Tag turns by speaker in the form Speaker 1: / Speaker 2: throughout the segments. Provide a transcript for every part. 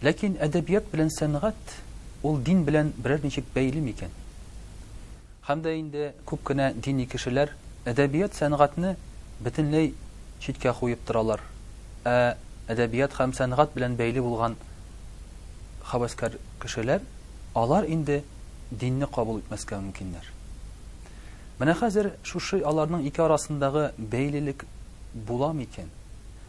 Speaker 1: Ләкин әдәбият белән сәнгать ул дин белән берәр ничек бәйле микән? Һәм дә инде күп кенә дини кешеләр әдәбият сәнгатьне бөтенләй читкә куеп торалар, ә әдәбият һәм сәнгать белән бәйле булган хәвәскәр кешеләр, алар инде динне кабул итмәскә мөмкиннәр. Менә хәзер шушы аларның ике арасындагы бәйлелек була микән?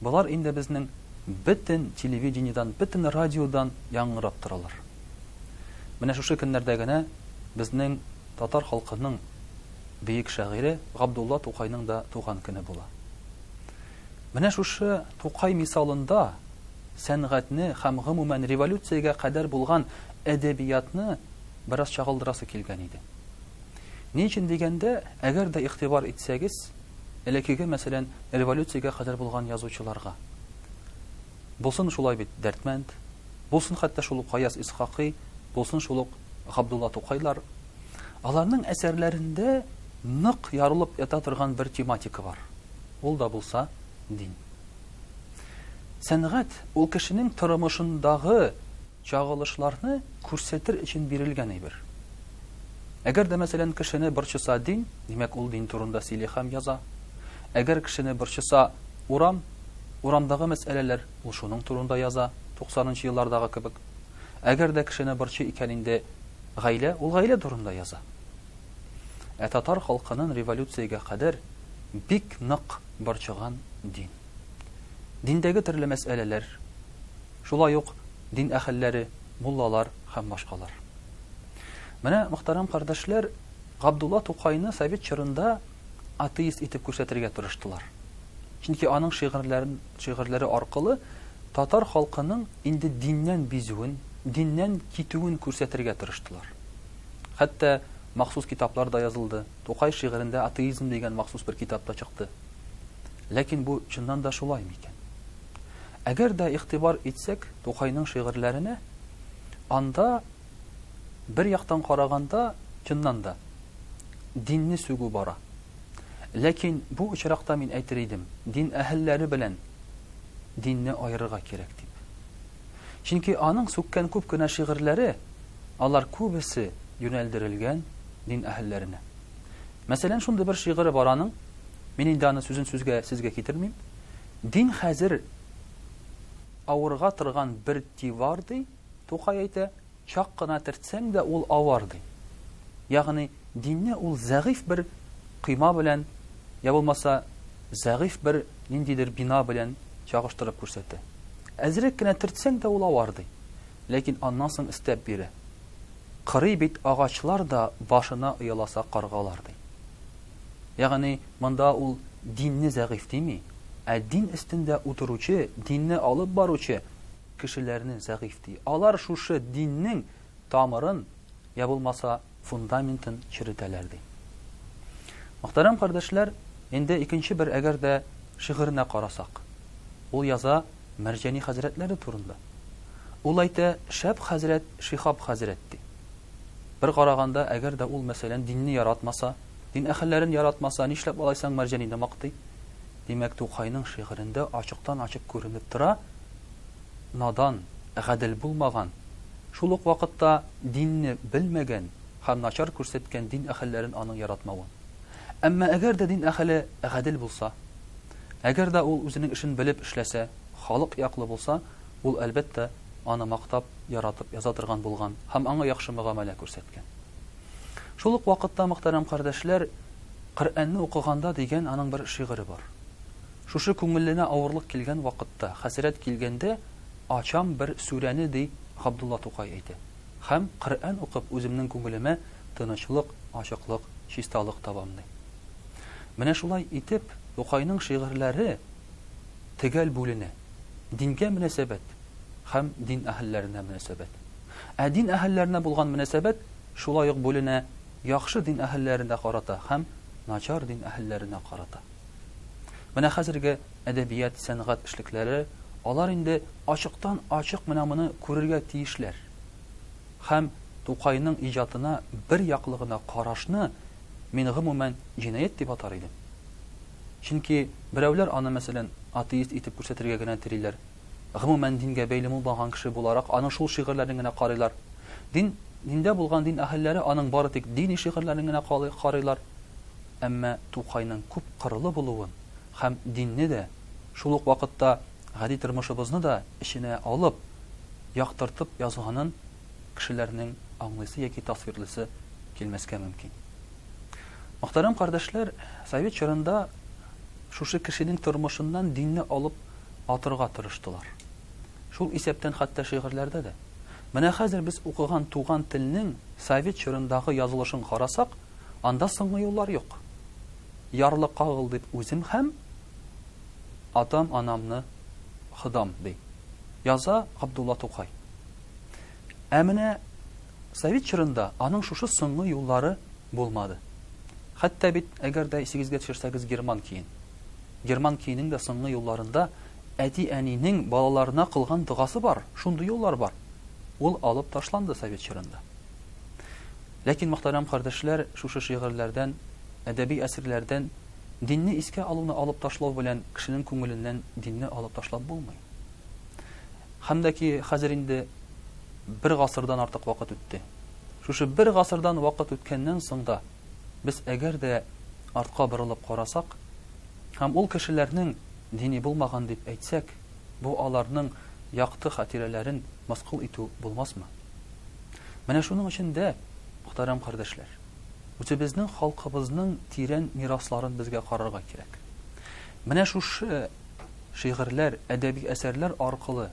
Speaker 1: Болар инде безнең бөтен телевидениедән, бөтен радиодан яңгырап торалар. Менә шушы көннәрдә генә безнең татар халкының бөек шагыйре Габдулла Тукайның да туган көне була. Менә шушы Тукай мисалында сәнгатьне һәм гомумән революциягә кадәр булган әдәбиятны бераз чагылдырасы килгән иде. Ни өчен дигәндә, әгәр дә игътибар итсәгез, Элекеге, мәсәлән, революциягә кадәр булган язучыларга. Булсын шулай бит Дәрдмәнд, булсын хәтта шул ук Гаяз Исхакый, булсын шул ук Габдулла Тукайлар. Аларның әсәрләрендә нык ярылып ята торган бер тематика бар. Ул да булса, дин. Сәнгать, ул кешенең тормышындагы Чагылышларны күрсәтер өчен бирелгән әйбер. Әгәр дә, мәсәлән, кешене борчыса дин, димәк, ул дин турында сөйли һәм яза. Әгәр кешене борчыса урам, урамдагы мәсьәләләр, ул шуның турында яза, туксанынчы еллардагы кебек. Әгәр дә кешене борчый икән инде гаилә, ул гаилә турында яза. Ә татар халкынын революциягә кадәр бик нык борчыган дин. Диндәге төрле мәсьәләләр, Шулай ук дин әһелләре, муллалар һәм башкалар. Менә, мөхтәрәм кардәшләр, Габдулла Тукайны совет чорында атеист итеп күрсәтергә тырыштылар. Чөнки аның шигырьләрен, шигырьләре аркылы татар халкының инде диннән бизүен, диннән китүен күрсәтергә тырыштылар. Хәтта махсус китаплар да язылды. Тукай шигырендә атеизм дигән махсус бер китап та чыкты. Ләкин бу чыннан да шулай микән? Әгәр дә игътибар итсәк Тукайның шигырьләренә, анда, бер яктан караганда, чыннан да, динне сүгү бара. Ләкин бу очракта мин әйтер идем, дин әһелләре белән динне аерырга кирәк дип. Чөнки аның сүккән күп кенә шигырьләре, алар күбесе юнәлдерелгән дин әһелләренә. Мәсәлән, шундый бер шигыре бар аның, мин инде аны сүзен-сүзгә сезгә китермим, Дин хәзер авырга торган бер дивар, ди, Тукай әйтә, чак кына төртсәң дә ул авар, ди. Ягъни динне ул зәгыйфь бер койма белән, я булмаса, зәгыйфь бер ниндидер бина белән чагыштырып күрсәтә. Әзрәк кенә төртсәң дә ул авар, ди. Ләкин аннан соң өстәп бирә, Кырый бит агачлар да башына ояласа каргалар, ди. Ягъни монда ул динне зәгыйфь дими, ә дин өстендә утыручы, динне алып баручы кешеләрне зәгыйфь ди. Алар шушы диннең тамырын, я булмаса, фундаментын черетәләр, ди. Мөхтәрәм кардәшләр, инде икенче бер әгәр дә шигыренә карасак. Ул яза. Мәрҗани хәзрәтләре турында. Ул әйтә, Шәп хәзрәт Шиһаб хәзрәт, ди. Бер караганда, әгәр дә ул, мәсәлән, динне яратмаса, дин әһелләрен яратмаса, нишләп алай соң Мәрҗанине мактый? Димәк, Тукайның шигырендә ачыктан-ачык күренеп тора, надан, гадел булмаган, шул ук вакытта динне белмәгән һәм начар күрсәткән дин әһелләрен аның яратмавы. Әмма әгәр дә дин әһеле гадел булса? Әгәр дә ул үзенең эшен белеп эшләсә, халык яклы булса, ул, әлбәттә, аны мактап, яратып яза торган булган һәм аңа яхшы мөгамәлә күрсәткән. Шул ук вакытта, мөхтәрәм кардәшләр, Коръәнне укыганда дигән аның бер шигыре бар. Шушы күңеленә авырлык килгән вакытта, хәсрәт килгәндә, ачам бер сүрәне, ди Габдулла Тукай әйтә. Һәм, Коръән укып, үземнең күңелемә тынычлык, ачыклык, чисталык табам, ди. Менә шулай итеп, Тукайның шигырьләре төгәл бүленә, дингә мөнәсәбәт һәм дин әһелләренә мөнәсәбәт. Ә дин әһелләренә булган мөнәсәбәт шулай ук бүленә, яхшы дин әһелләренә карата һәм начар дин әһелләренә карата. Менә хәзерге әдәбият, сәнгать эшлекләре, алар инде ачыктан-ачык менә моны күрергә тиешләр һәм Тукайның иҗатына бер яклы гына карашны мин гомумән җинаять дип атар идем. Чөнки берәүләр аны, мәсәлән, атеист итеп күрсәтергә генә телиләр. Гомумән дингә бәйле булмаган кеше буларак аның шул шигырьләрен генә карыйлар. Дин, диндә булган дин әһелләре аның бары тик дини шигырьләрен генә карыйлар. Әмма Тукайның күп кырлы булуын һәм динне дә, шул ук вакытта гади тормышыбызны да эченә алып, яктыртып язганын кешеләрнең аңлыйсы яки тасвирлыйсы килмәскә мөмкин. Мөхтәрәм кардәшләр, совет чорында шушы кешенең тормышыннан динне алып атырга тырыштылар. Шул исәптән хәтта шигырьләрдә дә. Менә хәзер без укыган Туган телнең совет чорындагы язылышын карасак, Анда соңгы юллар юк. Ярлы кагыл дип үзем һәм атам-анамны кыдам, ди яза Габдулла Тукай. Ә менә совет чорында аның шушы соңгы юллары булмады. Хәтта бит, әгәр дә исегезгә төшерсәгез, герман киен. Герман киенең дә соңгы юлларында әти-әнинең балаларына кылган догасы бар, шундый юллар бар. Ул алып ташланды совет чорында. Ләкин, мөхтәрәм кардәшләр, шушы шигырьләрдән, әдәби әсрләрдән динне искә алуны алып ташлау белән кешенең күңеленнән динне алып ташлап булмый. Һәм дә ки хәзер инде бер гасырдан артык вакыт үтте. Шушы бер гасырдан вакыт үткәннән соң да без әгәр дә артка борылып карасак һәм ул кешеләрнең дини булмаган дип әйтсәк, бу аларның якты хатирәләрен мыскыл итү булмасмы? Менә шуның өчен дә, мөхтәрәм кардәшләр, үзебезнең халкыбызның тирән мирасларын безгә карарга кирәк. Менә шушы шигырьләр, әдәби әсәрләр аркылы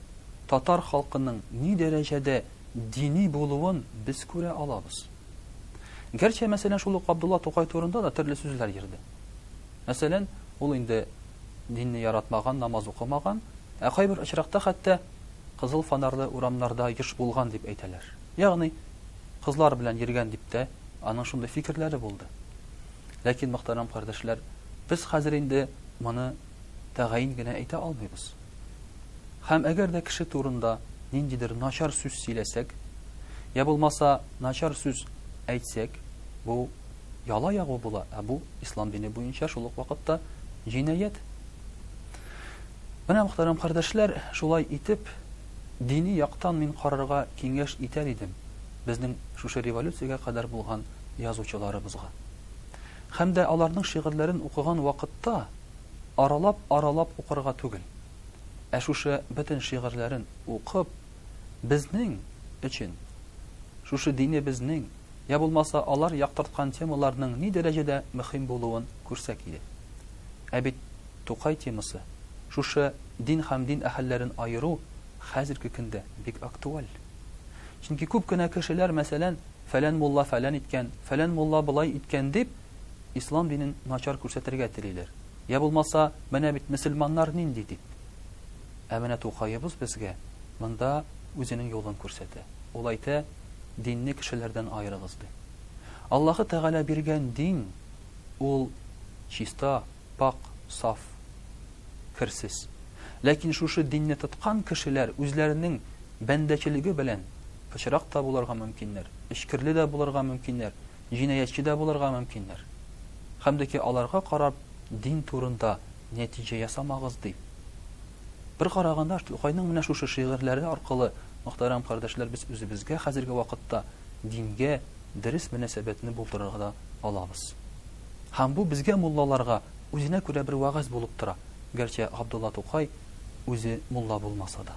Speaker 1: татар халкының ни дәрәҗәдә дини булуын без күрә алабыз. Гәрчә, мәсәлән, шул ук Габдулла Тукай турында да төрле сүзләр йөрде. Мәсәлән, ул инде динне яратмаган, намаз укымаган, ә кайбер очракта хәтта кызыл фонарлы урамнарда еш булган дип әйтәләр. Ягъни, кызлар белән йөргән дип тә аның шундый фикерләре булды. Ләкин, мөхтәрәм кардәшләр, без хәзер инде моны тәгаен генә әйтә алмыйбыз. Һәм әгәр дә кеше турында ниндидер начар сүз сөйләсәк, йә булмаса начар сүз әйтсәк, бу яла ягу була, ә бу, ислам дине буенча, шул ук вакытта җинаять. Менә, мөхтәрәм кардәшләр, шулай итеп, дини яктан мин карарга киңәш итәр идем безнең шушы революциягә кадәр булган язучыларыбызга. Һәм дә аларның шигырьләрен укыган вакытта аралап-аралап укырга түгел, ә шушы бөтен шигырьләрен укып, безнең өчен, шушы динебезнең, йә булмаса алар яктырткан темаларның ни дәрәҗәдә мөхим булуын күрсәк иде. Ә бит Тукай темасы, шушы дин һәм дин әһелләрен аеру хәзерге көндә бик актуаль. Чөнки күп кенә кешеләр, мәсәлән, фәлән мулла фәлән иткән, фәлән мулла болай иткән дип, ислам динен начар күрсәтергә телиләр. Йә булмаса, менә бит мөселманнар нинди дип. Ә менә Тукаебыз безгә монда үзенең юлын күрсәтә. Ул әйтә. динне кешеләрдән аерыгыз, ди. Аллаһы Тәгалә биргән дин, ул чиста, пакь, саф, керсез. Ләкин шушы динне тоткан кешеләр үзләренең бәндәчелеге белән пычрак та булырга мөмкиннәр, эчкерле дә булырга мөмкиннәр, җинаятьче дә булырга мөмкиннәр. Хәмдеки аларга карап дин турында Нәтиҗә ясамагыз, ди. Бер караганда, Тукайның менә шушы шигырьләре аркылы, мөхтәрәм кардәшләр, без үзебезгә хәзерге вакытта дингә дөрес мөнәсәбәтне булдырырга да алабыз. Һәм бу безгә муллаларга үзенә күрә бер вәгазь булып тора, гәрчә Габдулла Тукай үзе мулла булмаса да.